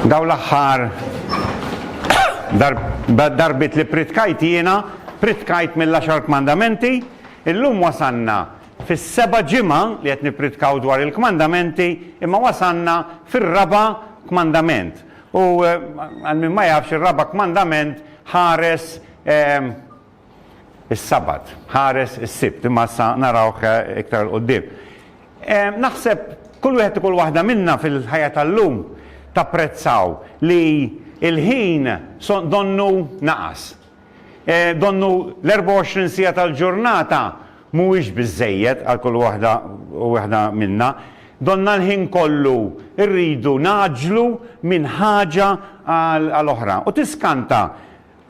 Daw l-aħħar darbit li pritkajt jiena, pritkajt mill-10 kmandamenti, illum wasanna fis-seba ġimgħa li qed nippritkaw dwar il-kmandamenti, imma wasanna fir-raba kmandament. U eh, għal min ma jafx ir-raba kmandament ħares eh, is-Sabat. Ħares is-Sibt, imma issa narawh iktar 'l quddiem. Naħseb kull wieħed u kull waħda minna fil-ħajja tal-lum tapprezzaw li l-ħin donnu naqas. Donnu l-24 siegħa tal-ġurnata mhuwiex biżżejjed għal kull waħda u waħda minna. Donna l-ħin kollu rridu ngħaġġlu minn ħaġa għal oħra. U tiskanta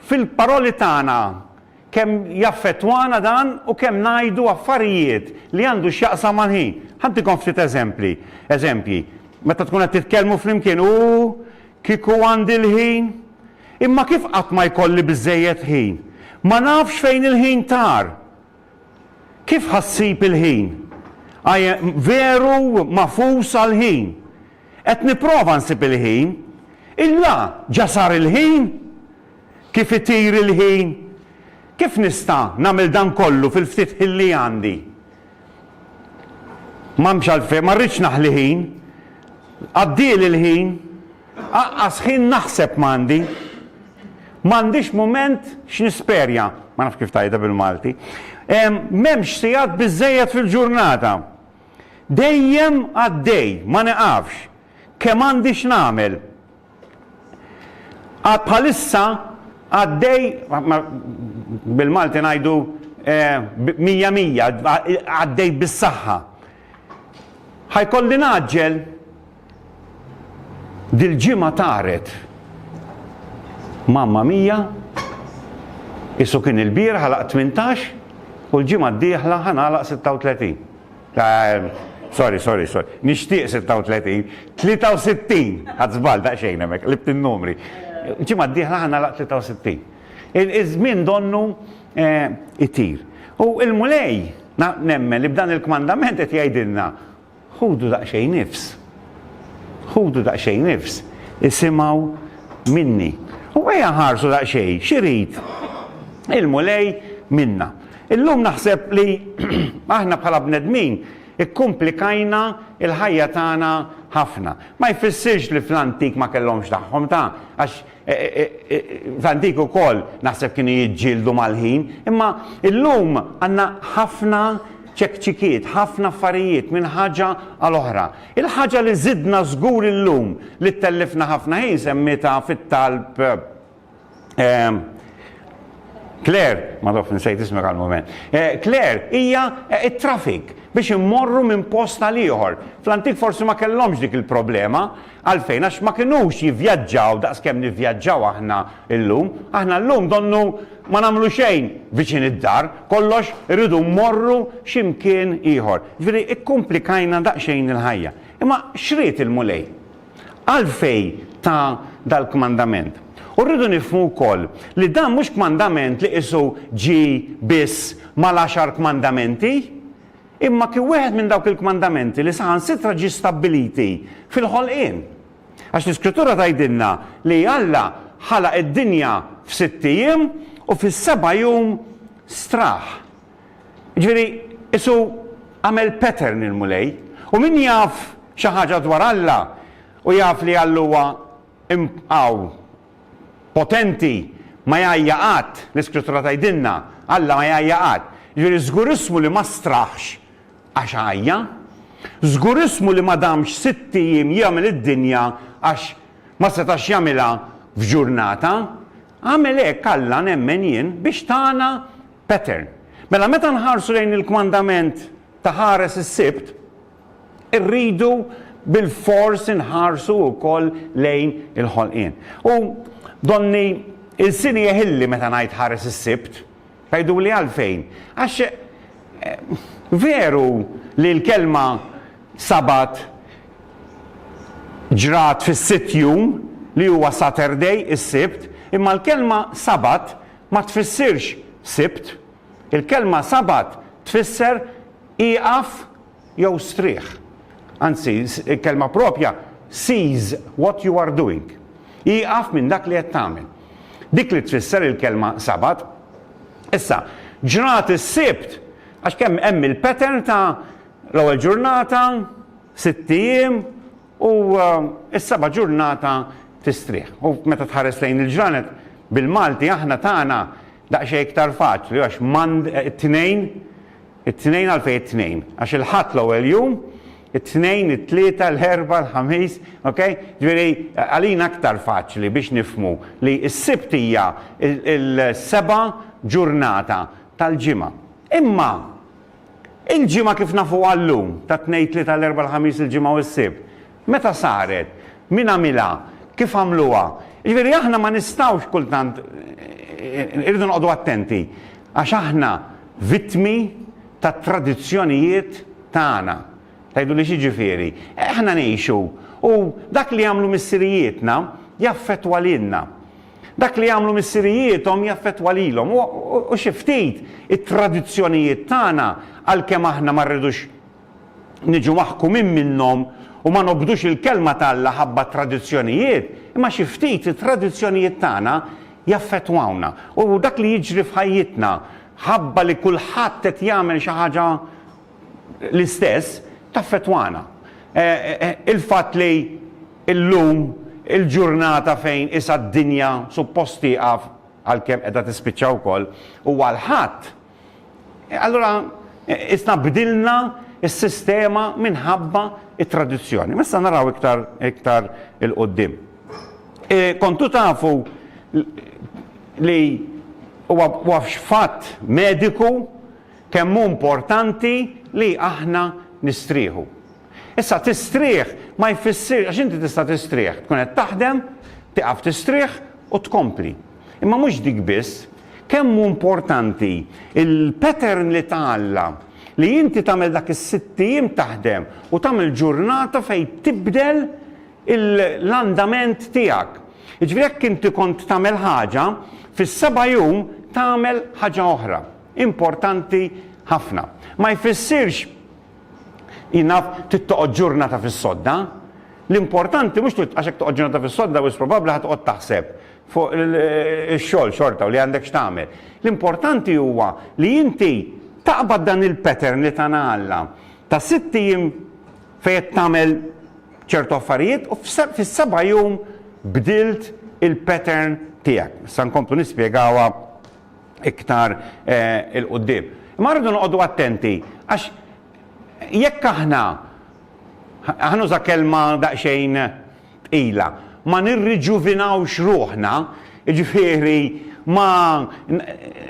fil-paroli tagħna, kemm jaffettwana dan u kemm ngħidu affarijiet li għandu x'jaqsam mal-ħin. Ħa ntikom ftit eżempli, eżempji, meta tkun qed titkellmu flimkien, Ooh, kieku għandi l-ħin! Imma kif qatt ma jkolli biżżejjed ħin? Ma nafx fejn il-ħin tar! Kif ħa ssib il-ħin? I am, veru mafus għall-ħin! Qed nipprova nsib il-ħin. Illa ġa sar il-ħin? Kif itir il-ħin? Kif nista' nagħmel dan kollu fil-ftit ħin li għandi? M'hemmx għalfejn, ma rridx naħli ħin. Għaddieli l-ħin. Aqqas ħin naħseb m'għandi. M'għandix mument x'nisperja. Ma nafx kif tgħidha bil-Malti. M'hemmx sigħat biżżejjed fil-ġurnata. Dejjem għaddej, ma neqafx. Kemm għandi x'nagħmel. Għad bħalissa għaddej, bil-Malti ngħidu mija mija, għaddej bis-saħħa. Ħa jkolli ngħaġġel? Dil-ġimgħa taret Mamma Mia, isu kien il-bieraħ għalaq 18 u l-ġimgħa d-dieħla ħa nagħlaq 36. Sorry, sorry, sorry. Nixtieq 36. 63! Ħadt żball daqsxejn hemmhekk, qlibt in-numri. Il-ġimgħa d-dieħla ħa nagħlaq 63. Iż-żmien donnu eh, itir. U l-Mulej nemmen li b'dan il-kmandament qed jgħidilna Ħudu daqsxejn nifs. Ħudu daqsxejn nifs. Isimgħu minni. U ejja nħarsu daqsxejn x'irid il-Mulej minna. Illum naħseb li aħna bħala bnedmin ikkumplikajna l-ħajja tagħna ħafna. Ma jfissirx li fl-antik ma kellhomx tagħhom ta, għax F'antik ukoll naħseb kienu jiġġieldu mal-ħin, imma llum għandna ħafna ċekċikiet, ħafna affarijiet minn ħaġa għal oħra. Il-ħaġa li żidna żgur illum li ttellifna ħafna ħin semmietha fit-talb Claire, ma naf insejt ismek għal mument. Claire hija t-traffic biex immorru minn post għal ieħor. Fl-antik forsi ma kellhomx dik il-problema, Għalfejn? Għax ma kinux jivvjaġġaw daqs kemm nivvjaġġaw aħna llum. Aħna llum donnu ma nagħmlu xejn viċin id-dar, kollox irridu mmorru xi mkien ieħor. Jiġifieri kkumplikajna daqsxejn il-ħajja. Imma x'ried il-Mulej? Għalfejn ta dal-kmandament? U rridu nifhmu wkoll li dan mhux kmandament li qisu ġie biss mal-għaxar kmandamenti. Imma kien wieħed minn dawk il-kmandamenti li saħansitra ġie stabbiliti fil-ħolqien. Għax l-Iskrittura tgħidilna li Alla ħalaq id-dinja f'sitt ijiem u fis-seba' jum straħ. Jiġifieri, qisu għamel pattern il-Mulej. U min jaf xi ħaġa dwar Alla u jaf li Alla huwa imqaw. potenti ma jgħajja qatt, l-Iskrittura tgħidilna, Alla ma jgħajja qatt. Jiġifieri żgur ismu li ma straħx għax għajja. Żgur ismu li ma damx sitt ijiem jagħmel id-dinja għax ma setax jagħmilha f'ġurnata. Għamel hekk Alla, nemmen jien, biex tana pattern. Mela meta nħarsu lejn il-kmandament ta' ħares is-Sibt, Irridu bilfors inħarsu wkoll lejn il-ħolqien. U donni lsini jeħilli meta ngħid ħares is-Sibt. Tgħiduli għalfejn? Għax veru li l-kelma Sabat ġrat fis-sitt jum, li huwa Saturday, is-Sibt, imma l-kelma Sabat ma tfissirx Sibt. Il-kelma Sabat tfisser ieqaf jew strieħ. Anzi, il-kelma proprja cease what you are doing, ieqaf minn dak li qed tagħmel. Dik li tfisser il-kelma Sabat. Issa, ġrat is-Sibt, għax kemm hemm il-pattern ta' l-ewwel ġurnata, sitt ijiem, u s-seba' ġurnata tistrieħ. U meta tħares lejn il-ġranet bil-Malti aħna tagħna, Daqsxejn iktar faċli għax m'għand it-Tnejn, it-Tnejn għalfejn it-Tnejn? Għax il-Ħadd l-ewwel jum, it-Tnejn, it-Tlieta, l-Erbgħa, l-Ħamis, ok? Ġifieri għalina iktar faċli biex nifhmu li s-Sibt hija l-seba' ġurnata tal-ġimgħa. Imma Il-ġimgħa kif nafuha llum, tat-Tnejn, Tlieta, l-Erbgħa, l-Ħamis, il-Ġimgħa u s-Sibt. Meta saret? Min għamilha? Kif għamluha? Jiġifieri aħna ma nistgħux kultant, irridu noqogħdu attenti għax aħna vittmi tat-tradizzjonijiet tagħna. Tgħiduli x'jiġifieri? Aħna ngħixu u dak li għamlu missirijietna jaffettwa lilna. Dak li jagħmlu missirijiethom jaffettwa lilhom u xi ftit it-tradizzjonijiet tagħna għalkemm aħna ma rridux niġu maħkumin minnhom u ma nobdux il-Kelma t'Alla ħabba t-tradizzjonijiet, imma xi ftit it-tradizzjonijiet tagħna jaffettwawna u dak li jiġri f'ħajjitna ħabba li kulħadd qed jagħmel xi ħaġa l-istess taffettwana. Il-fatt li llum il-ġurnata fejn isha d-dinja suppost tieqaf, għalkemm qiegħda tispiċċa wkoll, huwa l-Ħadd, allura isna bdilna s-sistema minħabba t-tradizzjoni. Ma issa naraw iktar iktar 'il quddiem. Kontu tafu li huwa huwa fatt mediku Kemm hu importanti li aħna nistrieħu. Issa, tistrieħ ma jfissirx, għax inti tista' tistrieħ, tkun qed taħdem, tieqaf tistrieħ u tkompli. Imma mhux dik biss, kemm hu importanti l-pattern li ta Alla li inti tagħmel dak is-sitt ijiem taħdem u tagħmel ġurnata fejn tibdel l-andament tiegħek. Jiġifieri jekk inti kont tagħmel ħaġa, fis-seba' jum tagħmel ħaġa oħra. importanti ħafna. Ma jfissirx jinaf trid toqgħod ġurnata fis-sodda. L-importanti mhux trid għax hekk toqgħod ġurnata fis-sodda wis probabbli ħa toqgħod taħseb fuq ix-xogħol xorta u li għandek x'tagħmel. L-importanti huwa li inti taqbad dan il-pattern li tana Alla ta' sitt ijiem fejn qed tagħmel ċertu affarijiet u fis-seba' jum bdilt il-pattern tiegħek. Sa nkomplu nispjegawha iktar 'il quddiem. Imma rridu noqogħdu attenti għax jekk aħna, ħa nuża kelma daqsxejn tqila, ma nirriġuvinawx ruħna, jiġifieri ma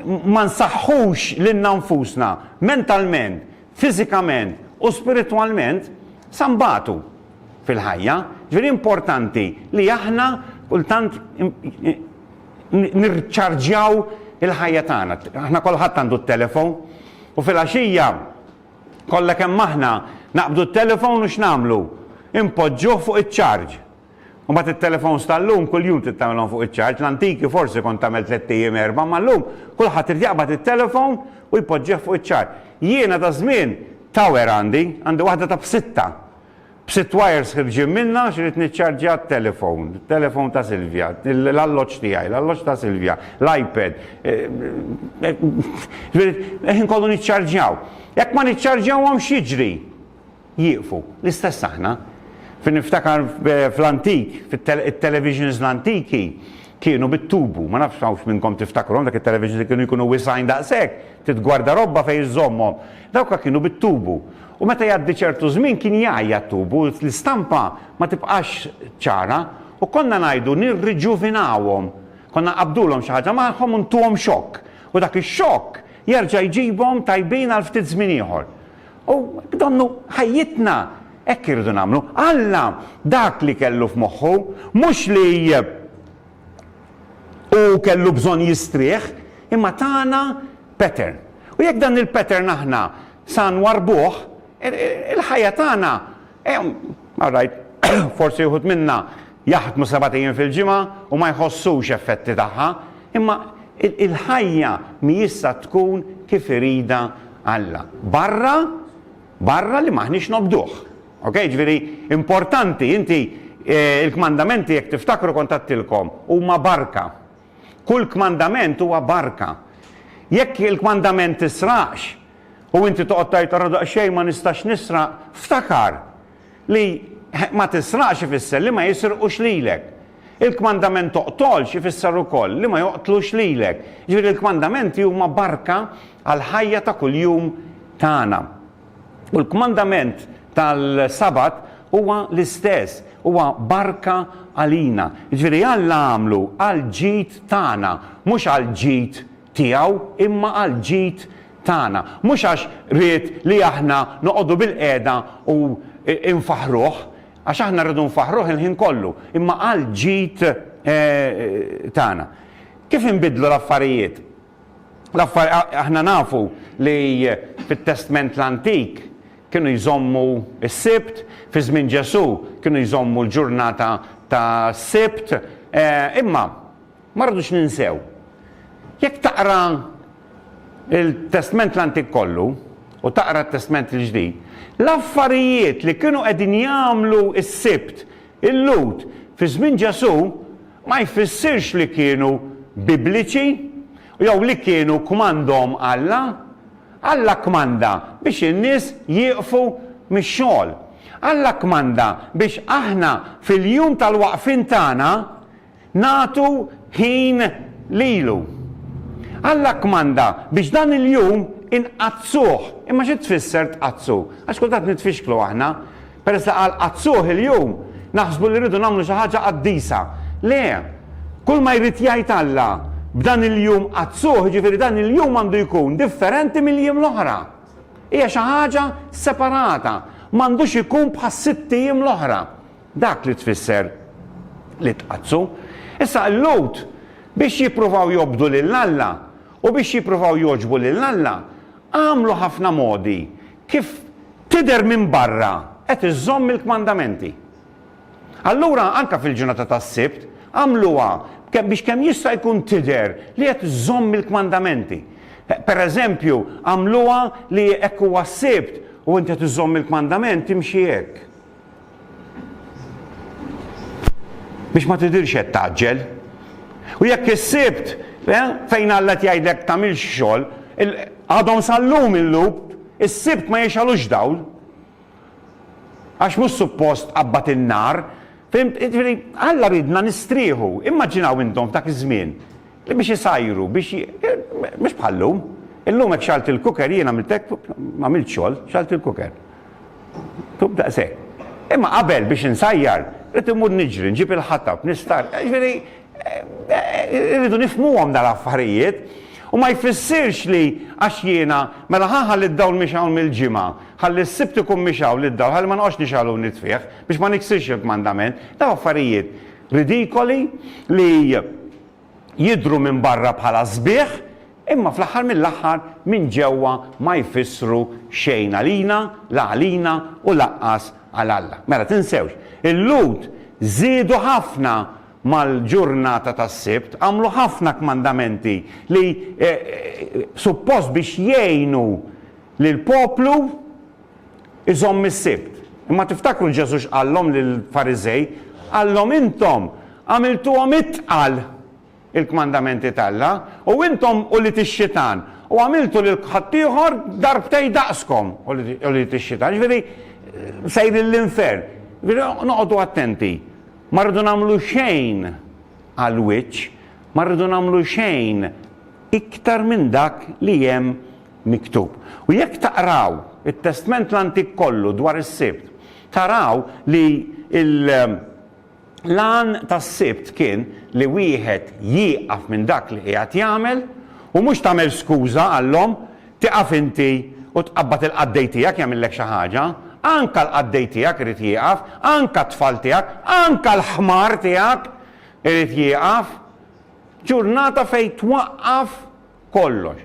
ma nsaħħux lilna nfusna mentalment, fiżikament u spiritwalment, sa nbatu fil-ħajja. Ġifieri importanti li aħna kultant nirċarġjaw il-ħajja tagħna. Aħna kulħadd għandu t-telefon u fil-għaxija kollha kemm aħna naqbdu t-telefon u x'nagħmlu? Impoġġuh fuq iċ-ċarġ. U mbagħad it-telefons tal-lum kuljum trid tagħmilhom fuq iċ-ċarġ, l-antiki forsi kont tagħmel tliet ijiem erba' ma llum kulħadd irid jaqbad it-telefon u jpoġġih fuq iċ-ċarġ. Jiena ta' żmien tower għandi, għandi waħda ta' b'sitta. B'sitt wires ħirġin minnha għax ridt niċċarġja t-telefown, it-telefown ta' Silvia, l-alloġġ tiegħi, l-alloġġ ta' Silvia, l-iPad. Il-ħin kollu niċċarġjaw. Jekk ma niċċarġjawhomx x'jiġri? Jieqfu. L-istess aħna. Fin niftakar fl-antik, it-televisions l-antiki kienu bit-tubu. Ma nafx hawnx minnkom tiftakruhom dak it-televisions li kienu jkunu wisgħin daqshekk, titgwarda robba fejn iżżommhom. Dawk kienu bit-tubu. U meta jgħaddi ċertu żmien kien jgħajja t-tub u l-istampa ma tibqax ċara u konna ngħidu nirriġuvinawhom. Konna nqabbdulhom xi ħaġa magħhom u ntuhom xokk u dak ix-xokk jerġa' jġibhom tajbin għal ftit żmien ieħor. U b'donnu ħajjitna hekk irridu nagħmlu. Alla dak li kellu f'moħħu mhux li hu kellu bżonn jistrieħ imma tana pattern. U jekk dan il-pattern aħna Sa nwarrbuh, il-ħajja tagħna, all right, forsi uħud minna jaħdmu sebat ijiem fil-ġimgħa u ma jħossux effetti tagħha, imma il-ħajja mhijiex sa tkun kif iridha Alla. Barra, barra li m'aħniex nobduh. Ok, ġifieri importanti, inti il-kmandamenti jekk tiftakru kont għedtilkom, huma barka. Kull kmandament huwa barka. Jekk il-kmandament tisraqx u inti toqgħod tgħid ara daqsxejn ma nistax nisraq, ftakar li ma tisraqx ifisser li ma jisrqux lilek. Il-kmandament toqtolx ifisser ukoll li ma joqtlux lilek. Jiġifieri l-kmandamenti huma barka għall-ħajja ta' kuljum tagħna. U l-kmandament tal-Sabat huwa l-istess, huwa barka għalina. Jiġifieri Alla għamlu għall-ġid tagħna, mhux għall-ġid tiegħu, imma għall-ġid tagħna. Mhux għax ried li aħna noqogħdu bilqiegħda u nfaħħruh, għax aħna rridu nfaħħruh il-ħin kollu, imma għall-ġid tagħna. Kif inbiddlu l-affarijiet? L-affar, aħna nafu li fit-Testment l-Antik kienu jżommu s-Sibt, fi żmien Ġesù kienu jżommu l-ġurnata tas-Sibt, imma ma rridux ninsew, jekk taqra l-Testment l-Antik kollu u taqra t-Testment il-Ġdid, l-affarijiet li kienu qegħdin jagħmlu s-Sibt, Il-Lhud fi żmien Ġesù ma jfissirx li kienu Bibliċi jew li kienu kkmandhom Alla. Alla kkmanda biex in-nies jieqfu mix-xogħol. Alla kkmanda biex aħna fil-jum tal-waqfien tagħna Nagħtu ħin lilu. Alla kkmanda biex dan il-jum inqaddsuh. Imma xi tfisser tqaddsu? Għax kultant nitfixklu aħna. Peress li qal qaddsuh il-jum, naħsbu li rridu nagħmlu xi ħaġa qaddisa. Le! Kulma jrid jgħid Alla b'dan il-jum qaddsuh, jiġifieri dan il-jum għandu jkun differenti mill-jiem l-oħra. Hija xi ħaġa separata. M'għandux ikun bħas-sitt ijiem l-oħra. Dak li tfisser li tqaddsu. Issa, il-Lhud, biex jippruvaw jobdu lil Alla u biex jippruvaw jogħġbu lil Alla, għamlu ħafna modi kif tidher minn barra qed iżżomm il-kmandamenti. Allura, anke fil-ġurnata tas-Sibt, għamluha biex kemm jista' jkun tidher li qed iżżomm il-kmandamenti. Pereżempju, għamluha li hekk huwa s-Sibt u int qed iżżomm il-kmandament, imxi hekk. Biex ma tidhirx qed tgħaġġel. U jekk is-Sibt eh, fejn Alla qed jgħidlek tagħmilx xogħol, għadhom sal-lum il-lub, is-Sibt ma jixgħalux dawl. Għax mhux suppost qabbad in-nar, Alla ridna nistrieħu, immaġinaw intom dak iż-żmien li biex isajru, biex mhux bħallum. Illum hekk xalt il-kuker jiena għamiltek ma għamilt xogħol, xalt il-kuker. Tub daqshekk. Imma qabel biex insajjar, rrid immur niġri, nġib il-ħatab, nistar. Jiġifieri, irridu nifhmuhom dal-affarijiet. U ma jfissirx li għax jiena, mela ħa ħalli d-dawl mhix hawn mill-Ġimgħa, ħalli s-Sibt ikun mhix hawn lid-dawl, ħalli ma noqgħodx nixgħel u nitfih, biex ma niksirx il-kmandament. Dawn affarijiet ridikoli li. jidhru minn barra bħala sbieħ imma fl-aħħar mill-aħħar minn ġewwa ma jfissru xejn għalina, la għalina u laqqas għal Alla. Mela tinsewx, il-Lhud żiedu ħafna mal-ġurnata tas-Sibt, għamlu ħafna kmandamenti li suppost biex jgħinu lill-poplu, iżomm is-Sibt. Imma tiftakru Ġesù x'qallhom lill-Fariżej? Qallhom, Intom għamiltuhom itqal il-kmandamenti t'Alla, u intom ulied ix-xitan, u għamiltu lil ħaddieħor darbtejn daqskom ulied ix-xitan. Jiġifieri sejrin l-infern. Jiġifieri noqogħdu attenti. Ma rridu nagħmlu xejn għall-wiċċ, ma rridu nagħmlu xejn iktar minn dak li hemm miktub. U jekk taqraw it-Testment l-Antik kollu dwar is-Sibt, taraw li l-għan tas-Sibt kien li wieħed jieqaf minn dak li qiegħed jagħmel u mhux tagħmel skuża għall-omm tieqaf inti u tqabbad il-qaddej tiegħek jagħmillek xi ħaġa. Anke l-qaddej tiegħek irid jieqaf, anke t-tfal tiegħek, anke l-ħmar tiegħek irid jieqaf. Ġurnata fejn twaqqaf kollox.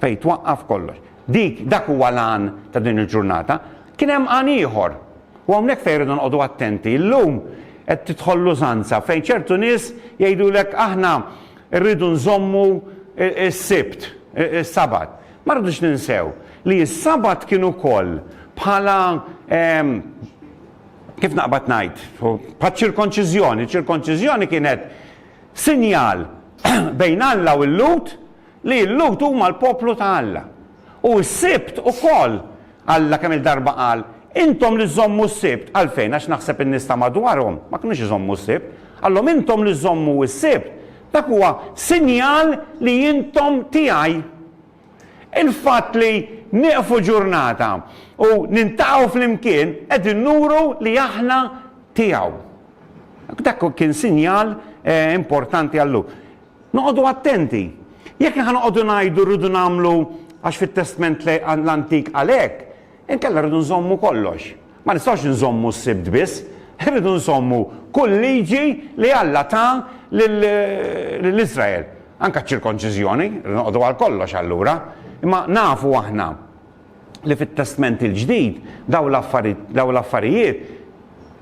Fejn twaqqaf kollox. Dik, dak huwa l-għan ta' din il-ġurnata. Kien hemm għan ieħor. U hawnhekk fejn irridu noqogħdu attenti. Illum qed tidħol l-użanza fejn ċertu nies jgħidulek aħna rridu nżommu s-Sibt, is-Sabat. Ma rridux ninsew li s-Sabat kien ukoll bħala kif naqbad ngħid, bħal ċirkonċiżjoni. Ċirkonċiżjoni kienet sinjal bejn Alla u l-Lhud li l-Lhud huma l-poplu ta' Alla. U s-Sibt ukoll, Alla kemm-il darba qal, Intom li żżommu s-Sibt, għalfejn? Għax naħseb in-nies ta' madwarhom ma kinux iżommu s-Sibt. Qalhom, Intom li żżommu s-Sibt, dak huwa sinjal li intom tiegħi. Il-fatt li nieqfu ġurnata u niltaqgħu flimkien qegħdin nuru li aħna tiegħu. Dak kien sinjal importanti għal Luk. Noqogħdu attenti. Jekk aħna noqogħdu ngħidu rridu nagħmlu għax fit-Testment l-Antik qal hekk, inkella rridu nżommu kollox. Ma nistgħux inżommu s-Sibt biss, irridu nżommu kull liġi li Alla ta lil Iżrael. Anke ċ-ċirkonċiżjoni, irridu noqogħdu għal kollox allura. Imma nafu aħna li fit-Testment il-Ġdid dawn l-affarijiet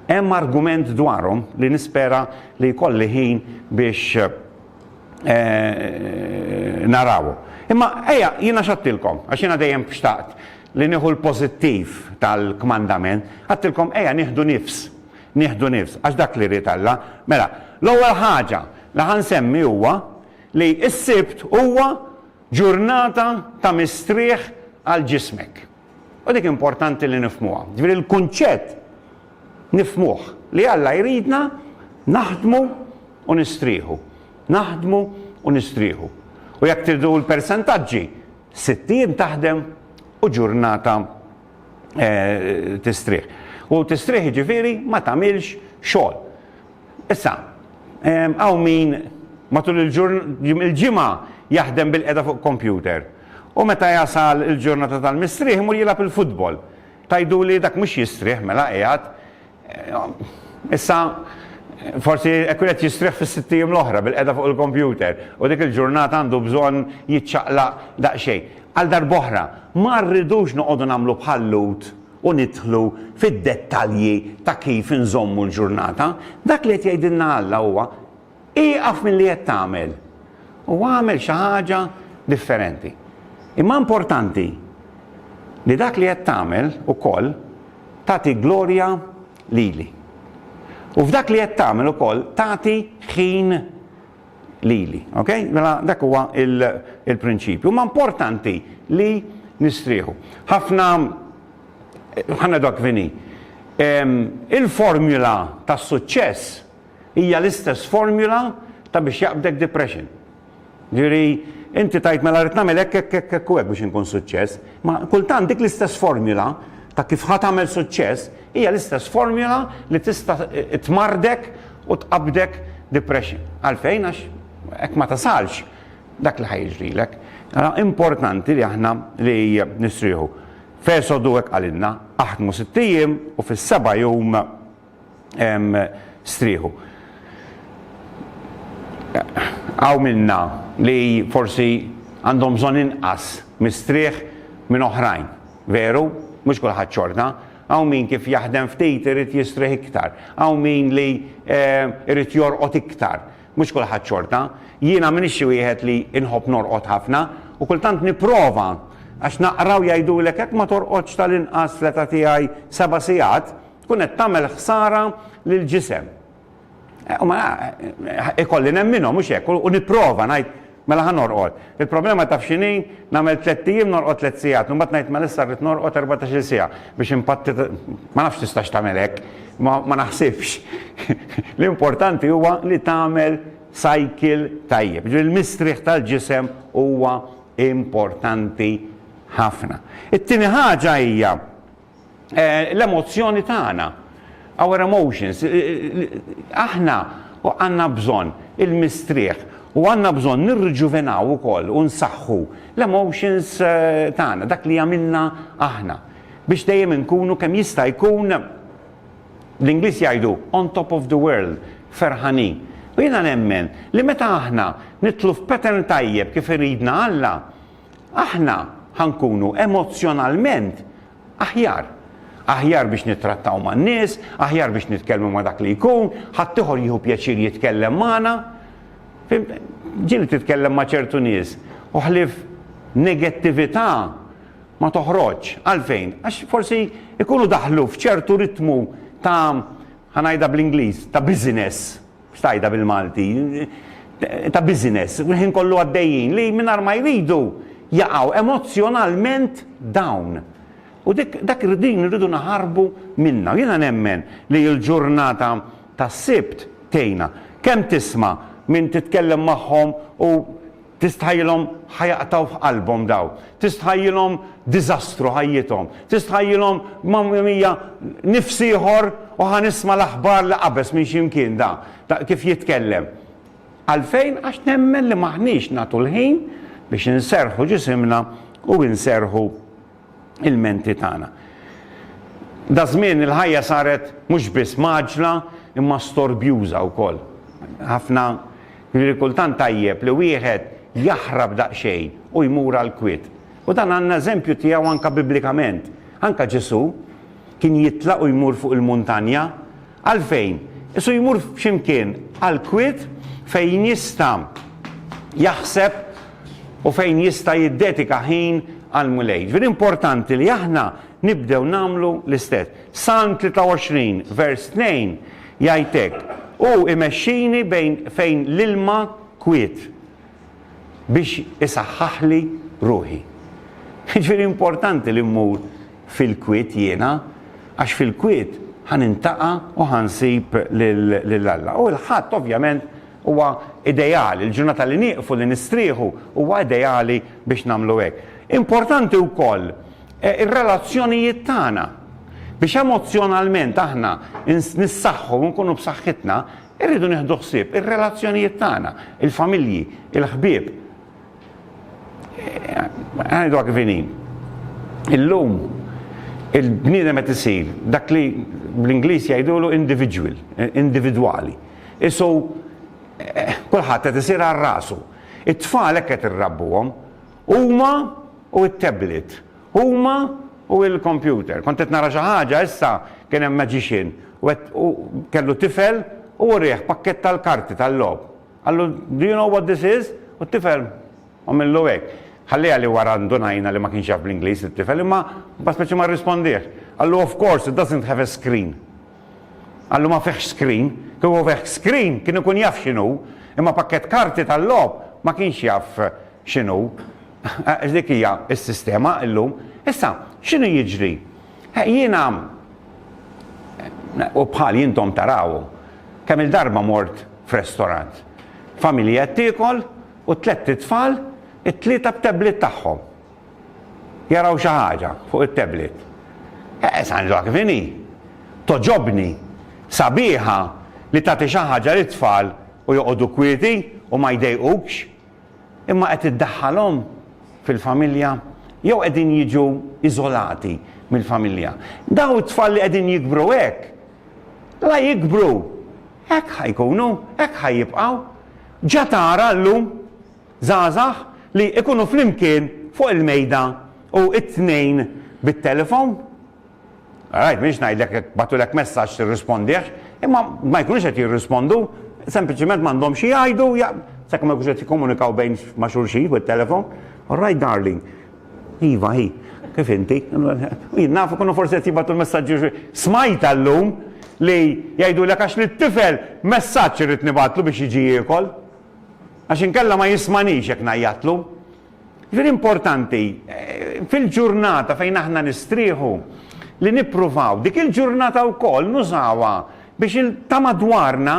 hemm argument dwarhom li nispera li jkolli ħin biex eh, narawu. Imma eja, jiena xattilkom, għax jiena dejjem xtaqt li nieħu l-pożittiv tal-kmandament, għattilkom eja nieħdu nifs, nieħdu nifs, għax dak li rrid Alla. Mela, l-ewwel ħaġa li ħansemmi huwa li s-sibt huwa ġurnata ta' mistrieħ għal ġismek. U dik importanti li nifhmuha. Ġifieri l-kunċett nifhmuh li Alla jridna naħdmu u nistrieħu, naħdmu u nistrieħu. U jekk tridu l-persentaġġi, sitt ijiem taħdem u ġurnata tistrieħ. U tistrieħ jiġifieri ma tagħmilx xogħol. Issa, hawn min matul il-ġimgħa jaħdem bilqiegħda fuq kompjuter. U meta jasal il-ġurnata tal-mistrieħ imur jilgħab il-futbol. Tgħiduli dak mhux jistrieħ mela qiegħed. Issa forsi hekk ikun qed jistrieħ fis-sitt ijiem l-oħra bil-qegħda fuq il-kompjuter u dik il-ġurnata għandu bżonn jiċċaqlaq daqsxejn. Għal darb'oħra, ma rridux noqogħdu nagħmlu bħal-Lhud u nidħlu fid-dettalji ta' kif inżommu l-ġurnata. Dak li qed jgħidilna Alla huwa, Ieqaf milli qed tagħmel u agħmel xi ħaġa differenti. Imma importanti li dak li qed tagħmel ukoll tagħti glorja lili. U f'dak li qed tagħmel ukoll tagħti ħin lili. Ok? Mela dak huwa il-prinċipju. Ma importanti li nistrieħu. Ħafna ħanna dak vini. Il-formula tas-suċċess Hija l-istess formula ta' biex jaqbdek depression. Ġifieri, inti tgħid mela rrid nagħmel hekk, hekk, hekk, hekk u hekk biex inkun suċċess. Ma kultant dik l-istess formula ta' kif ħa tagħmel suċċess hija l-istess formula li tista' tmarrdek u tqabbdek depression. Għalfejn? Għax hekk ma tasalx dak li ħa jiġrilek. Ara importanti li aħna li nistrieħu. F'Esodu hekk qalilna, aħdmu sitt ijiem u fis-seba' jum strieħu. Hawn minna li forsi għandhom bżonn inqas mistrieħ minn oħrajn. Veru, mhux kulħadd xorta. Hawn min kif jaħdem ftit irid jistrieħ iktar. Hawn min li jrid jorqod iktar. Mhux kulħadd xorta. Jiena m'iniex xi wieħed li nħobb norqod ħafna u kultant nipprova għax naqra u jgħidulek jekk ma torqodx tal-inqas fl-età tiegħi seba' sigħat, tkun qed tagħmel ħsara lill-ġisem. Eh, u ma eh, ikolli nemminhom mhux hekk u nipprova ngħid mela ħa norqod. Il-problema taf x'inhi nagħmel tliet ijiem norqod tliet sigħat, imbagħad ngħid mela issa rrid norqod 14 siegħa biex impatti ma nafx tistax tagħmel hekk, ma naħsibx. L-importanti huwa li tagħmel cycle tajjeb. Ġri l-mistrieħ tal-ġisem huwa importanti ħafna. It-tieni ħaġa hija eh, l-emozzjoni tagħna. Our emotions. Eh, eh, aħna għandna bżonn il-mistrieħ u għandna bżonn nirriġuvenaw ukoll u nsaħħu l-emotions tagħna, dak li għamilna aħna biex dejjem inkunu kemm jista' jkun l-Ingliż jgħidu on top of the world, ferħani. U jiena nemmen li meta aħna nitlu f'pattern tajjeb kif iridna Alla, aħna ħa nkunu emozzjonalment aħjar. Aħjar biex nittrattaw man-nies, aħjar biex nitkellmu ma' dak li jkun, ħaddieħor jieħu pjaċir jitkellem magħna. Fimt? Ġieli titkellem ma' ċertu nies u ħlief negattività ma toħroġx. Għalfejn? Għax forsi jkunu daħlu f'ċertu ritmu ta' ħanajda bl-Ingliż ta' business. Stajda bil-Malti, ta' business, kull ħin kollu għaddejjin li mingħajr ma jridu jaqgħu emozzjonalment down. U dak din irridu naħarbu minnha. Jiena nemmen li l-ġurnata tas-Sibt tgħinna. Kemm tisma' min titkellem magħhom u Tistħajjilhom ħa jaqtgħu f'qalbhom dawn. Tistħajjilhom diżastru ħajjithom. Tistħajjilhom mamma mia nifs ieħor u ħa nisma' l-aħbar li qabeż minn xi mkien da, ta' kif jitkellem. Għalfejn? Għax nemmen li m'aħniex nagħtu l-ħin biex inserrħu ġisimna u nserrħu ilmenti tagħna. Daż-żmien il-ħajja saret mhux biss mgħaġġla imma storbjuża wkoll. Ħafna Jiġifieri kultant tajjeb li wieħed jaħrab daqsxejn u jmur għall-kwiet. U dan għandna eżempju tiegħu anke biblikament. Anke Ġesù kien jitlaq u jmur fuq il-muntanja. Għalfejn? Isu jmur f'xi mkien għall-kwiet fejn jista' jaħseb u fejn jista' jiddedika ħin għall-Mulej. Jiġifieri importanti li aħna nibdew nagħmlu l-istess. Salm 23 vers 2 jgħid hekk, Hu imexxini bejn fejn l-ilma kwiet. biex isaħħaħli ruħi. Jiġifieri importanti li mmur fil-kwiet jiena għax fil-kwiet ħa nintaqa' u ħa nsib lil Alla. U l-Ħadd ovvjament huwa ideali, il-ġurnata li nieqfu li nistrieħu huwa ideali biex nagħmlu hekk. Importanti wkoll eh, ir-relazzjonijiet tagħna biex emozzjonalment aħna nissaħħu u nkunu b'saħħitna Irridu nieħdu ħsieb ir-relazzjonijiet tagħna, il-familji, il-ħbieb. Ngħidha kif inhi. Illum il-bniedem qed isir dak li bl-Ingliż jgħidulu individual, individwali. Isu eh, kulħadd qed isir għal rasu. It-tfal hekk qed irrabbuhom huma u t-tablet Huma u l-kompjuter. Kont qed nara xi ħaġa issa, kien hemm magician u qed u kellu tifel u wrieh pakkett tal-karti tal-logħob. Qallu, Do you know what this is? U t-tifel għamillu hekk. Ħalliha li wara ndunajna li ma kienx jaf bl-Ingliż it-tifel imma ma speċi ma rrispondiex. Qallu, Of course, it doesn't have a screen. Qallu, Ma fihx screen. Kieku fih screen kien ikun jaf x'inhu, imma pakkett karti tal-logħob ma kienx jaf x'inhu. Għax dik hija s-sistema llum. Issa, x'inhu jiġri? Jiena u bħali intom taraw, kemm il-darba mort f'restorant. Familja qed tiekol u t-tlett itfal, it-tlieta b'tablet tagħhom. Jaraw xi ħaġa fuq it-tablet. Eh, San Ġwann kif inhi? Togħġobni, sabiħa li tagħti xi ħaġa lit-tfal u joqogħdu kwieti u ma jdejqukx. imma qed iddaħħalhom fil-familja jew qegħdin jiġu iżolati mill-familja. Daw it-tfal li qegħdin jikbru hekk, la jikbru, hekk ħajkunu, hekk ħajjibqgħu. Ġa tara llum żgħażagħ li ikunu flimkien fuq il-mejda u it-tnejn bit-telefon. All right, m'iniex ngħidlek jekk bagħtulek messaġġ tirrispondih, imma ma jkunux qed jirrispondu, sempliċiment m'għandhomx xi jgħidu, sakemm ma jkunux qed jikkomunikaw bejn ma' xulxin fuq it-telefon. All right darling. Iva, hi, kif inti? Jien naf ikunu forsi qed jibgħatu l-messaġġi smajt llum li jgħidulek għax li t-tifel messaġġ irid nibgħatlu biex jiġi jiekol. Għax inkella ma jismanix jekk ngħajjatlu. Jiġifieri importanti fil-ġurnata fejn aħna nistrieħu li nippruvaw dik il-ġurnata wkoll nużawha biex il ta' madwarna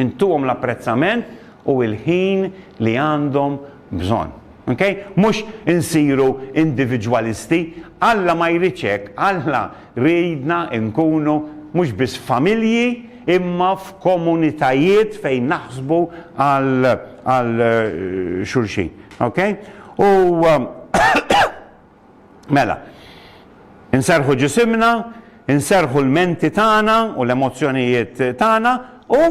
intuhom l-apprezzament u l-ħin li għandhom bżonn. Okay? Mhux insiru individwalisti. Alla ma jridx hekk. Alla jridna nkunu mhux biss familji, imma f'komunitajiet fejn naħsbu għal għal xulxin. Ok? U mela, inserħu ġisimna, inserħu l-menti tagħna u l-emozzjonijiet tagħna u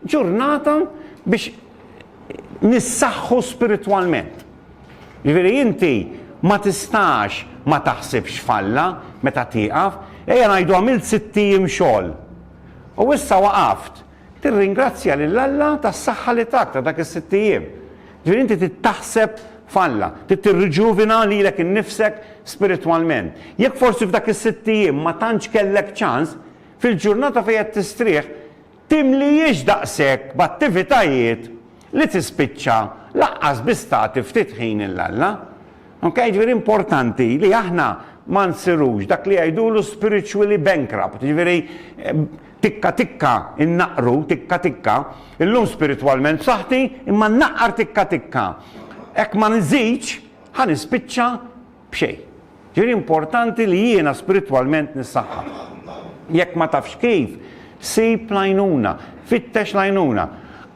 ġurnata biex nissaħħu spiritwalment. Jiġifieri inti ma tistax ma taħsibx f'Alla meta tieqaf. Ejja ngħidu għamilt sitt ijiem xogħol u issa waqaft. Tirringrazzja lil Alla tas-saħħa li tak ta' dak is-sitt ijiem. Jiġifieri inti trid taħseb f'Alla. Trid tirriġuvina lilek innifsek spiritwalment. Jekk forsi f'dak is-sitt ijiem ma tantx kellek ċans, fil-ġurnata fejn qed tistrieħ, timlihiex daqshekk b'attivitajiet li tispiċċa lanqas biss tagħti ftit ħin lil Alla. Ok, jiġifieri importanti li aħna ma nsirux dak li jgħidulu spiritually bankrupt, jiġifieri tikka tikka innaqqru, tikka tikka, illum spiritwalment b'saħħti imma nnaqqar tikka tikka. Hekk ma nżidx, ħa nispiċċa B'xejn. Ġifieri importanti li jiena spiritwalment nissaħħaħ. Jekk ma tafx kif, sib l-għajnuna, fittex l-għajnuna.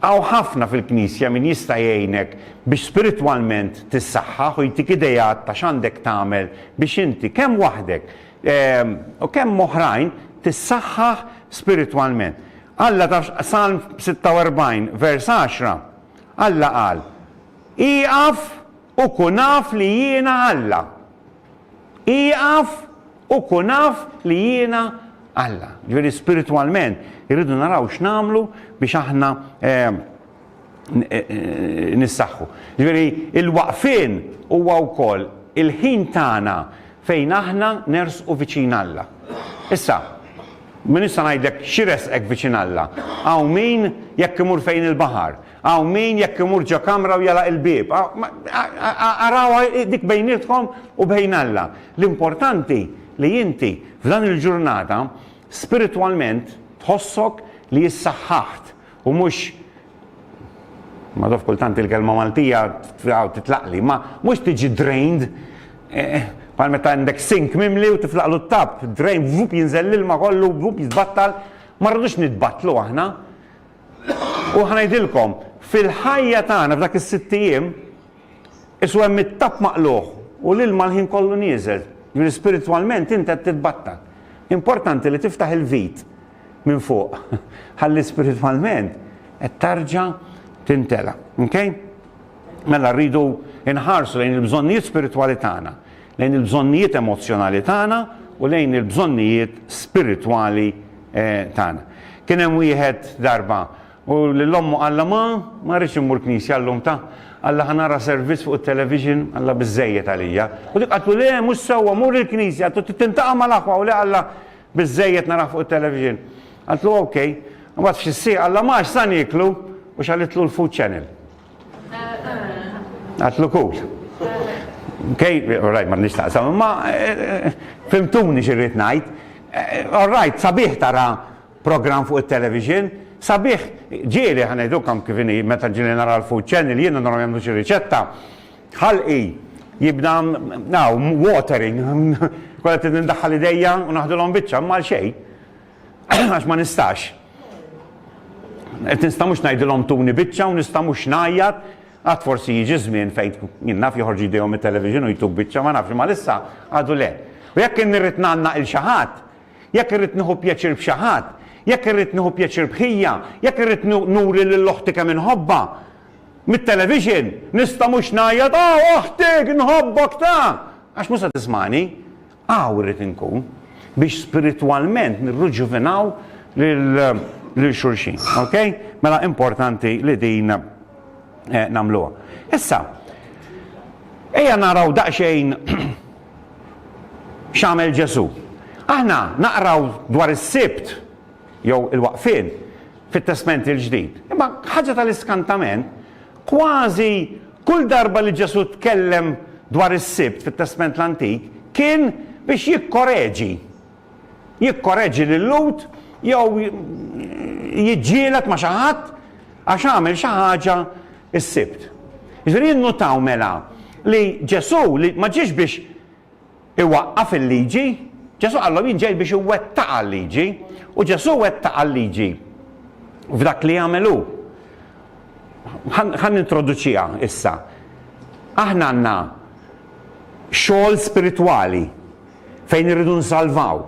Hawn ħafna fil-Knisja min jista' jgħinek biex spiritwalment tissaħħaħ u jtik ideat ta' x'għandek tagħmel biex inti kemm waħdek u kemm oħrajn tissaħħaħ spiritwalment. Alla taf Salm 46 vers 10, Alla qal, Ieqaf U kun af li jiena Alla. Ieqaf u kun af li jiena Alla. Ġifieri spiritwalment irridu naraw x'nagħmlu biex aħna nissaħħu. Ġifieri l-waqfien huwa wkoll il-ħin tagħna fejn aħna nersqu viċin Alla. Issa, min issa ngħidlek x'iressqek viċin Alla? Hawn min jekk imur fejn il-baħar. Hawn min jekk imur ġo kamra u jagħlaq il-bieb. Arawha dik bejnietkom u bejn Alla. L-importanti li inti f'dan il-ġurnata spiritwalment tħossok li issaħħaħt u mhux ma naf kultant il-kelma Maltija titlaqli, imma mhux tiġi drained bħal meta għandek sink mimli u tiflaqlu t-tapp, drain vup jinżel l-ilma kollu vup jitbattal, ma rridux nitbattlu aħna. U ħa ngħidilkom, fil-ħajja tagħna f'dak is-sitt ijiem, issu hemm it-tapp maqlugħ u l-ilma l-ħin kollu nieżel. Jiġifieri spiritwalment int qed titbattal. Importanti li tiftaħ il-vit minn fuq ħalli spiritwalment qed tarġa' tintela'. Okay? Mela rridu nħarsu lejn il-bżonnijiet spiritwali tagħna, lejn il-bżonnijiet emozzjonali tagħna u lejn il-bżonnijiet spiritwali tagħna. Kien hemm wieħed darba u lil ommu qalla ma, ma rridx immur knisja llum ta, qalla ħa nara servizz fuq it-television, qalla biżżejjed għalija. U dik qaltlu le mhux sewwa mur il-knisja, tu trid tintaqa' mal-aħwa u le qalla biżżejjed narah fuq it-television. Qaltlu ok. Imbagħad f'xi siegħa qalla ma għax sa nieklu u xagħlitlu l-food channel. Għatlu kul. Kej, rajt ma nix taqsam, ma eh, fimtuni xirrit najt. Eh, rajt, sabiħ tara program fuq il-television, sabiħ ġieli ħanajdu kam kifini meta ġieli nara l-food channel, jiena nara jemlu xi riċetta. Ħalqi, jibda, now, watering, kolla t-nindaħħal ideja u naħdu l-om bicċa, mal xej. Għax ma nistax. Qed nista' mhux ngħidilhom tuni biċċa u nista' mhux ngħajjat għad forsi jiġi żmien fejn jien naf joħorġu jdejhom it-television u jtuk biċċa ma nafx ma lissa għadu le. U jekk nirrid nanna il xi ħadd, jekk irrid nieħu pjaċir b'xi ħadd, jekk irrid nieħu pjaċir bħija, jekk irrid nuri lil oħti kemm inħobba, mit-television nista' mhux ngħajjat ah oħtik nħobbok ta' għax mhux se tismani. Hawn irrid inkun biex spiritwalment nirruġuvinaw lil xulxin. Okej? Mela importanti li din nagħmluha. Issa, ejja naraw daqsxejn x'għamel Ġesù. Aħna naqraw dwar is-Sibt jew il-waqfien fit-Testment il-Ġdid. Imma ħaġa tal-iskantament, Kważi kull darba li Ġesù tkellem dwar is-Sibt fit-Testment l-Antik kien biex jikkoreġi. Jikkoreġi lil Lhud jew jiġġieled ma' xi ħadd għax għamel xi ħaġa s-Sibt. Jiġifieri innutaw mela li Ġesù li ma ġiex biex Iwaqqaf il-liġi? Ġesù qallhom jien ġej biex iwettaqha l-liġi, u Ġesù wettaqha l-liġi f'dak li għamel hu. Ħa nintroduċiha issa. Aħna għandna xogħol spiritwali fejn irridu nsalvaw.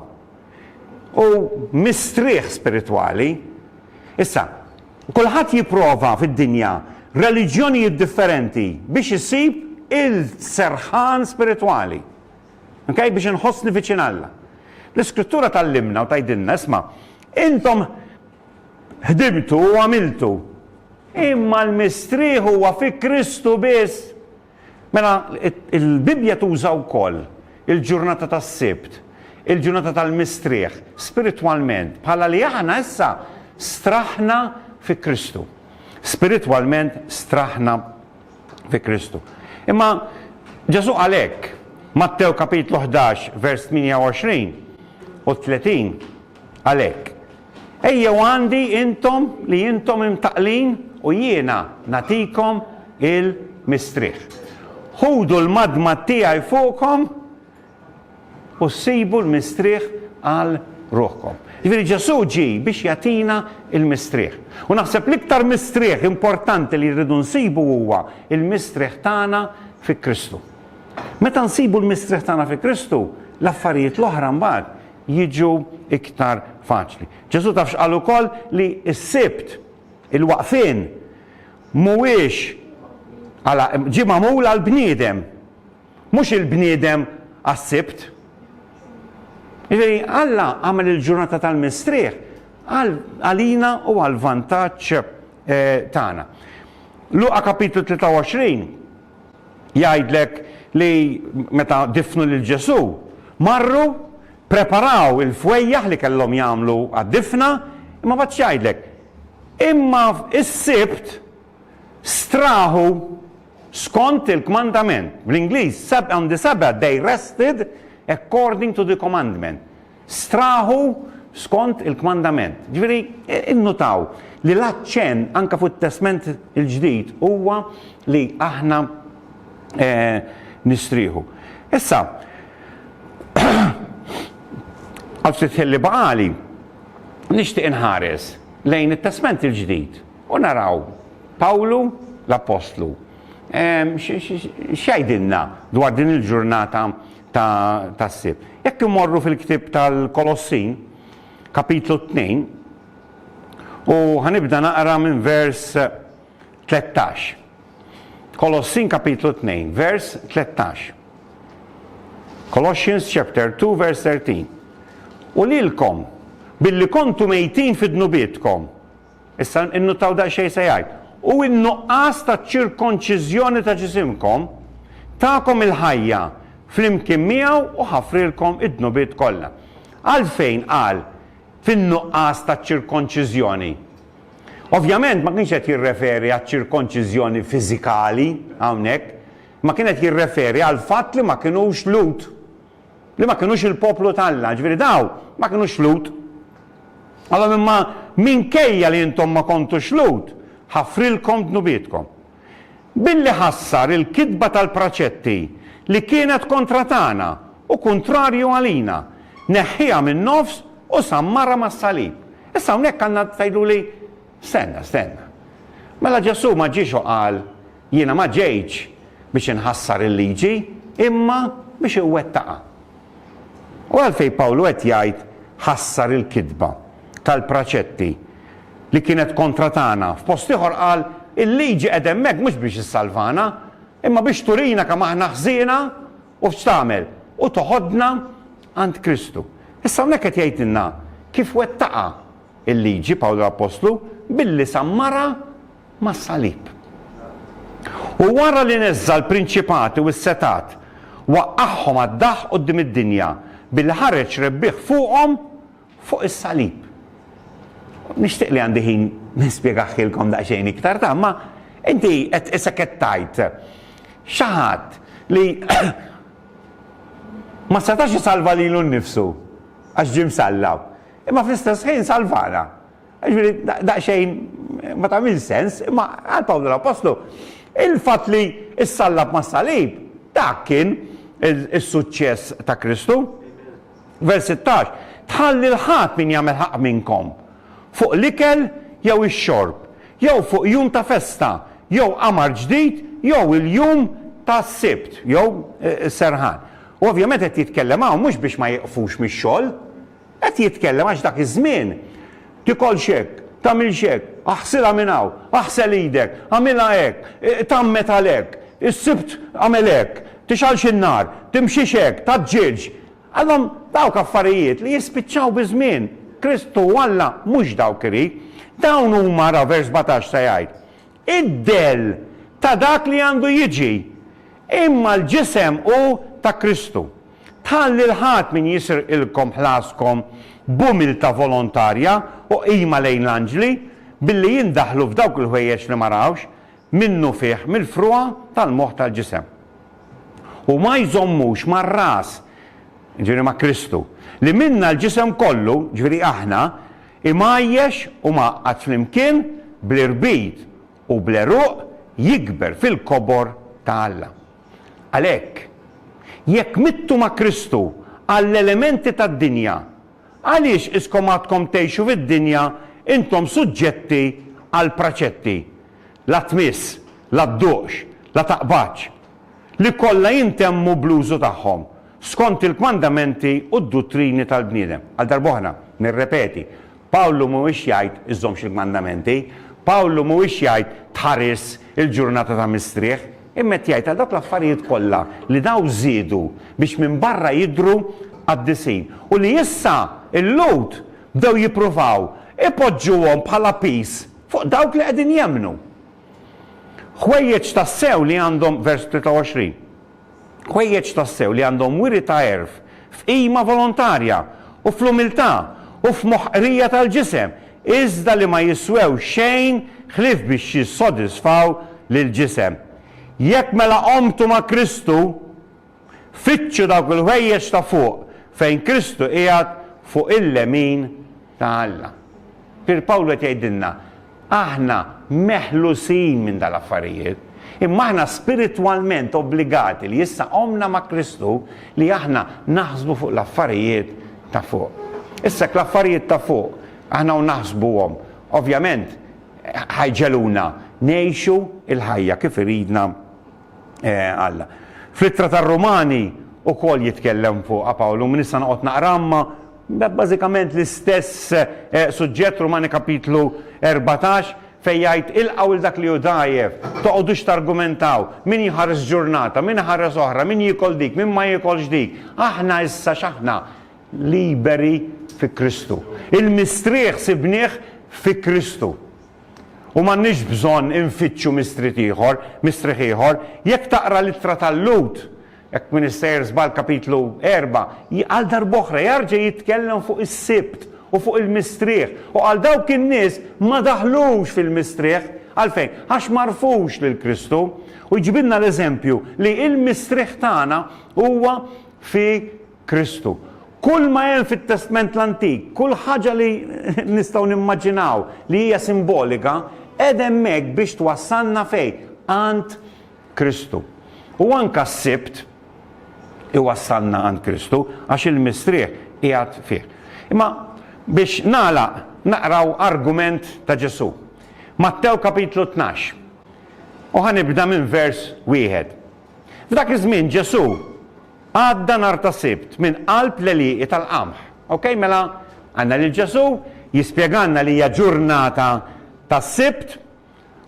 U mistrieħ spiritwali. Issa, Kulħadd jipprova fid-dinja reliġjonijiet differenti biex isib il-serħan spiritwali, ok, biex inħossni viċin Alla. L-Iskrittura tgħallimna u tgħidilna, isma', intom ħdimtu u għamiltu, imma l-mistrieħ huwa fi Kristu biss. Mela, il-Bibbja tuża wkoll il-ġurnata tas-Sibt, il-ġurnata tal-mistrieħ, spiritwalment, bħala li aħna issa straħna fi Kristu. Spiritwalment straħna fi Kristu. Imma Ġesu qal hekk, Mattew kapitlu 11 vers 28 u 30, Għalhekk, ejjew għandi intom li intom imtaqqlin u jiena nagħtikom il-mistrieħ. Ħudu l-madmad tiegħi fuqkom u ssibu l-mistrieħ għal ruħkom. Jiġifieri Ġesù ġie biex jagħtina l-mistrieħ. U naħseb l-iktar mistrieħ importanti li rridu nsibu huwa l-mistrieħ tagħna fi Kristu. Meta nsibu l-mistrieħ tagħna fi Kristu, l-affarijiet l-oħra mbagħad jiġu iktar faċli. Ġesù taf x'qal ukoll li s-Sibt, il-waqfien, mhuwiex għala ġie magħmul għal bniedem, mhux il-bniedem għas-Sibt. Jiġifieri Alla għamel il-ġurnata tal-mistrieħ għalina u għal vantaġġ eh, tagħna. Luqa kapitlu 23 Jgħidlek li meta diffnu lil Ġesù, marru, preparaw il-fwejjaħ li kellhom jagħmlu għad-difna, imma mbagħad x'jgħidlek? Imma s-Sibt straħu skont il-kmandament. Bl-Ingliż, on the Sabbath they rested according to the commandment. strahu skont il-kmandament. Ġifieri, innutaw li l-aċċenn anke fuq it-Testment il-Ġdid huwa li aħna nistrieħu. Issa, għal ftit ħin li baqali, nixtieq inħares lejn it-Testment il-Ġdid u naraw Pawlu l-appostlu x'jgħidilna dwar din il-ġurnata tas-Sibt. Jekk immorru fil-ktieb tal-Kolossin, kapitlu tnejn, u ħanibda naqra minn vers tlettax. Kolossin kapitlu tnejn, vers tlettax. Colossians chapter 2 vers 13. U lilkom billi kontu mejtin fid-dnubietkom Issa innuttaw daqsxejn se jgħid, U n-nuqqas taċ-ċirkonċiżjoni ta' ġisimkom takom il-ħajja flimkien miegħu u ħafrilkom id-dnubiet kollha. Għalfejn qal fin-nuqqas taċ-ċirkonċiżjoni? Ovvjament ma kienx qed jirreferi għaċ-ċirkonċiżjoni fiżikali hawnhekk, imma kien qed jirreferi għall-fatt li ma kinux Lhud. li ma kinux il-poplu t'Alla, jiġifieri dawn ma kinux Lhud. Għalhom imma minkejja li intom ma kontux Lhud, ħafrilkom dnubietkom. Billi ħassar il-kitba tal-praċetti li kienet kontra tagħna u kuntrarju għalina, neħħieha min-nofs u sammarha mas-salib. Issa hawnhekk għandna tgħiduli, Stenna, stenna. Mela Ġesù ma ġiex u qal, Jiena ma ġejtx biex inħassar il-liġi, imma biex inwettaqha. U għalfejn Pawlu qed jgħid ħassar il-kitba tal-praċetti li kienet kontra tagħna? F'post ieħor qal, Il-liġi qegħda hemmhekk mhux biex issalvana, imma biex turina kemm aħna ħżiena u x'tagħmel, u toħodna għand Kristu. Issa hawnhekk qed jgħidilna kif wettaqha l-liġi Pawlu l-appostlu, billi sammarha mas-salib. U wara li neżża' l-prinċipati u s-setgħat, waqqagħhom għad-daħq quddiem id-dinja billi ħareġ rebbieħ fuqhom fuq is-salib. Nixtieq li għandi ħin nispjegaħilkom daqsxejn iktar ta' imma inti qed isek qed tgħid xi ħadd li ma setax isalva lilu nnifsu għax ġie msallab, imma fl-istess ħin salvana. Jiġifieri daqsxejn ma tagħmilx sens, imma għal Pawlu l-Appostlu il-fatt li ssallab mas-salib dak kien is-suċċess ta' Kristu. Vers 16, Tħalli 'l ħadd min jagħmel ħaqq minnkom, fuq l-ikel jew ix-xorb, jew fuq jum ta' festa, jew qamar ġdid, jew il-jum tas-Sibt, jew is-serħan. U ovvjament qed jitkellem hawn mhux biex ma jieqfux mix-xogħol, Qed jitkellem għax dak iż-żmien, Tikolx hekk, tagħmilx hekk, aħsilha minn hawn, aħsel idek, agħmilha hekk, tgħammed għal hekk, is-Sibt agħmel hekk, tixgħalx in-nar, timxix hekk, tgħaġġilx. Għalhom dawk affarijiet li jispiċċaw biż-żmien. Kristu u Alla mhux dawk irid. Dawn huma, ara vers 17 se jgħid, id-dell ta' dak li għandu jiġi, imma l-ġisem hu ta' Kristu. Tħalli 'l ħadd min jisrqilkom ħlaskom b'umiltà volontarja u qima lejn l-anġli, billi jindaħlu f'dawk il-ħwejjeġ li ma rawx, minnufih mill-frugħa tal-moħħ tal-ġisem. U ma jżommux mar-Ras, jiġifieri ma' Kristu, li minnha l-ġisem kollu, jiġifieri aħna, imgħajjex u mgħaqqad flimkien bl-irbit u bl-għeruq, jikber fil-kobor ta' Alla. Għalhekk, jekk mittu ma' Kristu għall-elementi tad-dinja, għaliex iskom għadkom tgħixu fid-dinja intom suġġetti għall-praċetti, La tmiss, la dduqx, la taqbadx, li kollha jintemmu bl-użu tagħhom, skont il-kmandamenti u d-duttrini tal-bniedem? Għal darb'oħra, nirrepeti, Pawlu mhuwiex jgħid iżżommx il-kmandamenti, Pawlu mhuwiex jgħid tħaris il-ġurnata ta' mistrieħ, imma qed jgħid għal dawk l-affarijiet kollha li daw żiedu biex minn barra jidhru qaddisin u li issa l-Lhud bdew jippruvaw ipoġġuhom bħala piż fuq dawk li qegħdin jemmnu. Ħwejjeġ tassew li għandhom vers 23. ħwejjeġ tassew li għandhom wiri ta' għerf f'qima volontarja u fl-umiltà u f'moħħ qrija tal-ġisem, iżda li ma jiswew xejn ħlief biex jissodisfaw lill-ġisem. Jekk mela qomtu ma' Kristu, fittxu dawk il-ħwejjeġ ta' fuq, fejn Kristu qiegħed fuq il-lemin ta' Alla. Pier Pawlu qed jgħidilna, Aħna meħlusin minn dal-affarijiet, imma aħna spiritwalment obbligati li issa qomna ma' Kristu li aħna naħsbu fuq l-affarijiet ta' fuq. Issa jekk l-affarijiet ta' fuq aħna u naħsbuhom, ovvjament ħa jġegħluna ngħixu l-ħajja kif iridna Alla. Fl-Ittra tar-Rumani ukoll jitkellem fuqha Pawlu, minn issa noqgħod naqra imma bażikament l-istess suġġett, Rumani kapitlu erbatax, fejn jgħid, Ilqgħu lil dak li hu dgħajjef, toqgħodux targumentaw, min jħares ġurnata, min iħares oħra, min jiekol dik, min ma jiekolx dik. Aħna issa x'aħna? Liberi fi Kristu. Il-mistrieħ sibnieh fi Kristu. U m'għandniex bżonn infittxu mistriet ieħor, mistrieħ ieħor. Jekk taqra l-Ittra tal-Lhud, hekk m'iniex sejjer żball kapitlu erbgħa, j, għal darb'oħra jarġa' jitkellem fuq is-Sibt u fuq il-mistrieħ. U qal dawk in-nies ma daħlux fil-mistrieħ. Għalfejn? Għax m'għarfux lil Kristu. U jġibilna l-eżempju li l-mistrieħ tagħna huwa fi. Kristu. Kull ma hemm fit-Testment l-Antik, kull ħaġa li nistgħu nimmaġinaw li hija simbolika, qegħda hemmhekk biex twassalna fejn? Għand Kristu. U anke s-Sibt iwassalna għand Kristu għax il-Mistrieħ qiegħed fih. Imma biex nagħlaq naqraw argument ta' Ġesù. Mattew kapitlu tnax. U ħa nibda minn vers wieħed. F'dak iż-żmien Ġesù Għadda nhar ta' Sibt minn qalb l-għelieqi tal-qamħ. Ok, mela għandna lil Ġesù jispjegalna li hija ġurnata ta' Sibt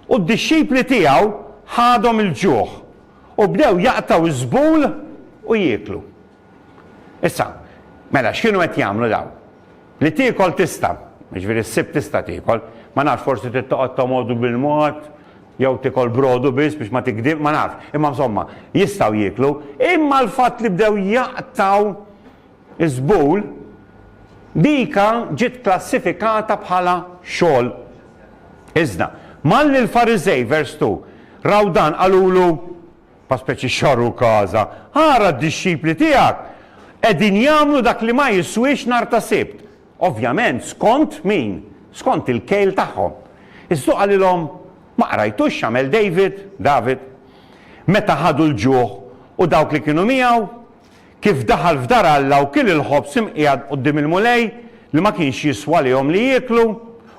u d-dixxipli tiegħu ħadhom il-ġuħ u bdew jaqtgħu ż-żbul u jieklu. Issa, mela x'kienu qed jagħmlu dawn? Li tiekol tista', jiġifieri ssib tista' tiekol, ma nafx forsi trid toqgħod tomodu bil-mod jew tiekol brodu biss biex ma tigdibx, ma nafx, imma insomma, jistgħu jieklu, imma l-fatt li bdew jaqtgħu ż-żbul, dika ġiet klassifikata bħala xogħol. Iżda, malli l-Fariżej, vers 2, raw dan qalulu, Pa speċi xorru kaza. Ara d-dixxipli tiegħek! Qegħdin jagħmlu dak li ma jiswiex nhar ta' Sibt. Ovvjament, skont min? Skont il-kejl tagħhom. Iżdu qalilhom, Ma qrajtux x'għamel David, David, meta ħadu l-ġuħ u dawk li kienu miegħu? kif daħal f'dar Alla u kiel il-ħobż imqiegħed quddiem il-Mulej, li ma kienx jiswa lihom li jieklu,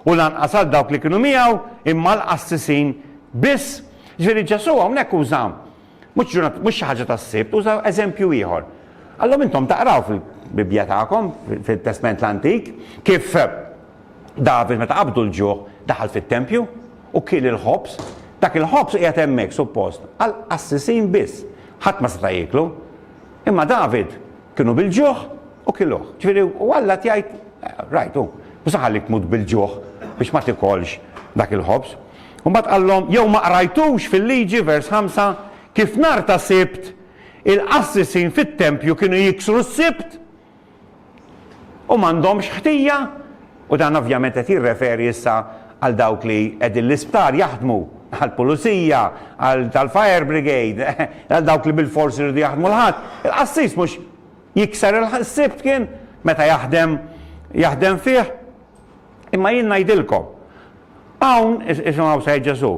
u lanqas għal dawk li kienu miegħu, imma għall-qassisin biss. Jiġifieri Ġesù hawnhekk uża mhux ġurnata, mhux xi ħaġa tas-Sibt, uża eżempju ieħor. Qallhom intom taqraw fil-Bibbja tagħkom, fit-Testment l-Antik, kif David meta qabdu l-ġuħ daħal fit-tempju u kiel il-ħobż. Dak il-ħobż qiegħed hemmhekk suppost għall-qassisin biss. Ħadd ma seta' jieklu. Imma David kienu bil-ġuħ u kiluh. Ġifieri, u Alla qed jgħid, Rajt, hu, mhux se nħallik tmut bil-ġuħ biex ma tikolx dak il-ħobż. U mbagħad qallhom, Jew ma qrajtux fil-Liġi, vers ħamsa, kif nhar ta' Sibt il-qassisin fit-tempju kienu jiksru s-Sibt? u m'għandhomx ħtija, u dan ovvjament qed jirreferi issa għal dawk li qegħdin l-isptar jaħdmu, għall-pulizija, għal tal-fire brigade, għal dawk li bilfors iridu jaħdmu l-Ħadd, il-qassis mhux jikser is-Sibt kien meta jaħdem jaħdem fih? Imma jien ngħidilkom, hawn, isimgħu Said Ġesù,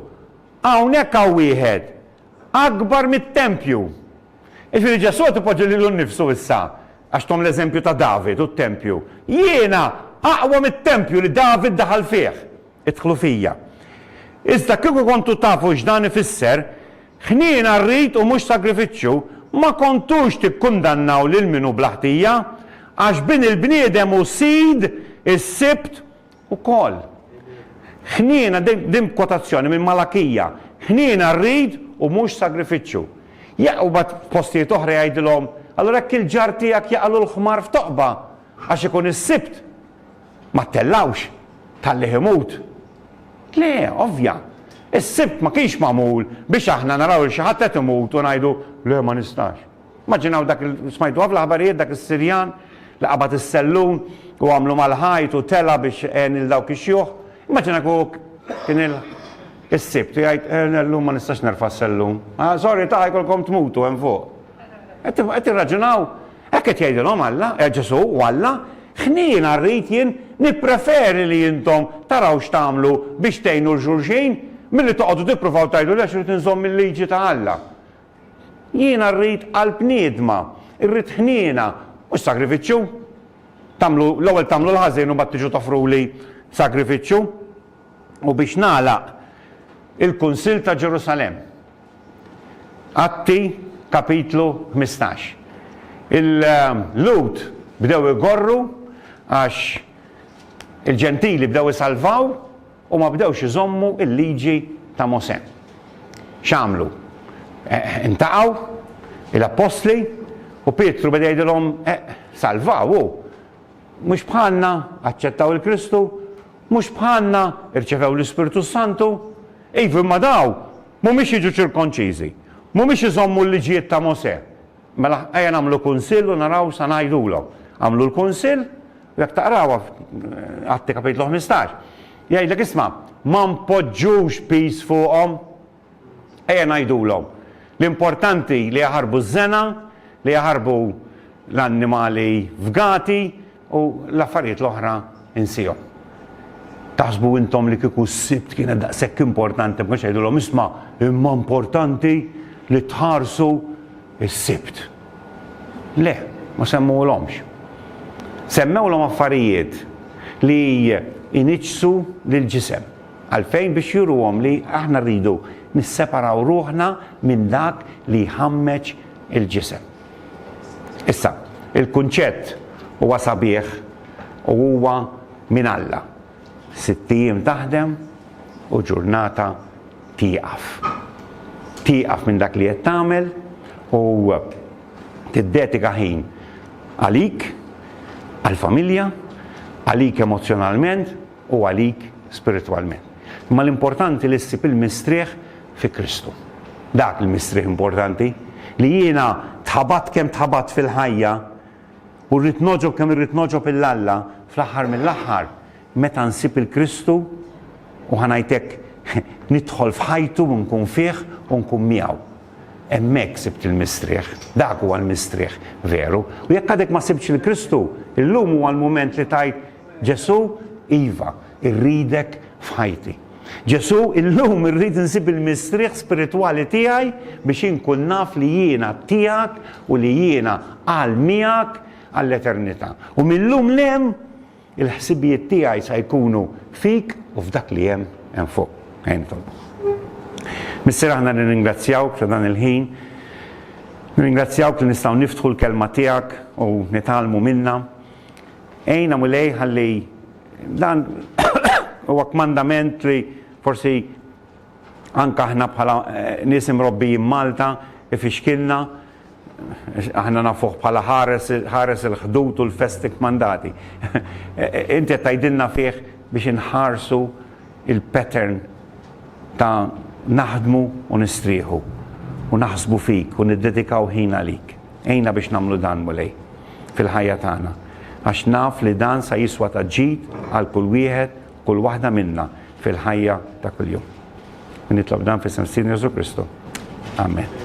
hawnhekk hawn wieħed akbar mit-tempju. Jiġifieri Ġesù qed ipoġġi lilu nnifsu issa, għax thom l-eżempju ta' David u t-tempju, Jiena aqwa mit-tempju li David daħal fih. Idħlu fija. Iżda kieku kontu tafu x'dan ifisser, Ħniena rrid u mhux sagrifiċċju, ma kontux tikkundannaw lil min hu bla ħtija, għax Bin il-bniedem hu sid is-Sibt ukoll. Ħniena, din b'kwotazzjoni minn Malakija, ħniena rrid u mhux sagrifiċċju. Jaqgħu mbagħad f'postijiet oħra jgħidilhom, Allura jekk il-ġar tiegħek jaqalu l-ħmar f'toqba għax ikun is-Sibt, ma ttellgħux, tħallih imut. Le, ovvja, is-Sibt ma kienx magħmul biex aħna naraw lil xi ħadd qed imut u ngħidu, Le, ma nistax. Immaġinaw dak li smajtuha fl-aħbarijiet, dak is-Sirjan li qabad is-sellun u għamlu mal-ħajt u tela' biex għen lil dawk ix-xjuħ. Immaġina kieku kien is-Sibt u jgħid, Llum ma nistax nerfa' s-sellun. Ah, sorry ta' jkollkom tmutu hemm fuq. Qed tirraġunaw? Hekk qed jgħidilhom Alla, eh, Ġesù u Alla, Ħniena rrid jien, nippreferi li intom taraw x'tagħmlu biex tgħinu 'l xulxin milli toqgħodu tippruvaw tgħidu le għax irid inżomm il-liġi ta' Alla. Jiena rrid qalb niedma, irrid ħniena, mhux sagrifiċċju. Tagħmlu, l-ewwel tagħmlu l-ħażin u mbagħad tiġu toffruli sagrifiċċju. U biex nagħlaq, il-Kunsill ta' Ġerusalemm. Atti, kapitlu ħmistax. Il-Lhud bdew igorru għax il-Ġentili bdew isalvaw, U ma bdewx iżommu l-liġi ta' Mosè. X'għamlu? Intaqgħu, il-appostli, u Pietru beda jgħidilhom, Salvaw hu! Mhux bħalna aċċettaw il-Kristu? Mhux bħalna rċevew l-Ispirtu s-Santu? Iva, imma dawn m'humiex jiġu ċirkonċiżi, m'humiex iżommu l-liġijiet ta' Mosè. Mela ejja nagħmlu kunsill u naraw sa ngħidulhom. Għamlu l-kunsill u jekk taqrawha Atti Kapitlu 15, jgħidlek isma' ma npoġġux piż fuqhom. Ejja ngħidulhom. L-importanti li jaħarbu ż-żena, li jaħarbu l-annimali fgati, U l-affarijiet l-oħra insihom. Taħsbu intom li kieku s-Sibt kienet daqshekk importanti ma kienx jgħidulhom isma' imma importanti li tħarsu s-Sibt. Le, ma semmuhulhomx. Semmewlhom affarijiet li jniġġsu l-ġisem. Għalfejn? Biex juruhom li aħna rridu nisseparaw ruħna minn dak li jħammeġ il-ġisem. Issa, il-kunċett huwa sabiħ u huwa minn Alla, sitt ijiem taħdem u ġurnata tieqaf. Tieqaf minn dak li qed tagħmel u tiddedika ħin għalik, għall-familja, għalik emozzjonalment, u għalik spiritwalment. Imma l-importanti li ssib il-mistrieħ fi Kristu. Dak il-mistrieħ importanti li jiena tħabatt kemm tħabatt fil-ħajja u rrid noġob kemm irrid noġob il Alla fl-aħħar mill-aħħar meta nsib il-Kristu u ħanajtek nidħol f'ħajtu u nkun fih u nkun miegħu. Hemmhekk sibt il-mistrieħ, dak huwa l-mistrieħ veru. U jekk għadek ma sibtx il-Kristu, illum huwa l-mument li tajt Ġesù, iva, irridek f'ħajti. Ġesù, illum irrid insib il-mistrieħ spiritwali tiegħi biex inkun naf li jiena tiegħek u li jiena għal miegħek għall-eternità. U mil-lum 'l hemm, il-ħsibijiet tiegħi sa jkunu fik u f'dak li hemm hemm fuq. Ejja nitolbu. Missier aħna nirringrazzjawk ta' dan il-ħin. Nirringrazzjawk li nistgħu niftħu l-kelma tiegħek u nitgħallmu minnha. Għinna Mulej ħalli dan huwa kmandament li forsi anke aħna bħala nies imrobbijin Malta ifixkilna, aħna nafuh bħala ħares il-ħdud u l-festi kmandati. Inti qed tgħidilna fih biex inħarsu il-pattern ta' naħdmu u nistrieħu, u naħsbu fik u niddedikaw ħin għalik. Għinna biex nagħmlu dan, Mulej, fil-ħajja tagħna, għax naf li dan sa jiswa ta' ġid għal kull wieħed u kull waħda minna fil-ħajja ta' kuljum. U nitlob dan f'isem Sidna Ġesù Kristu. Amen.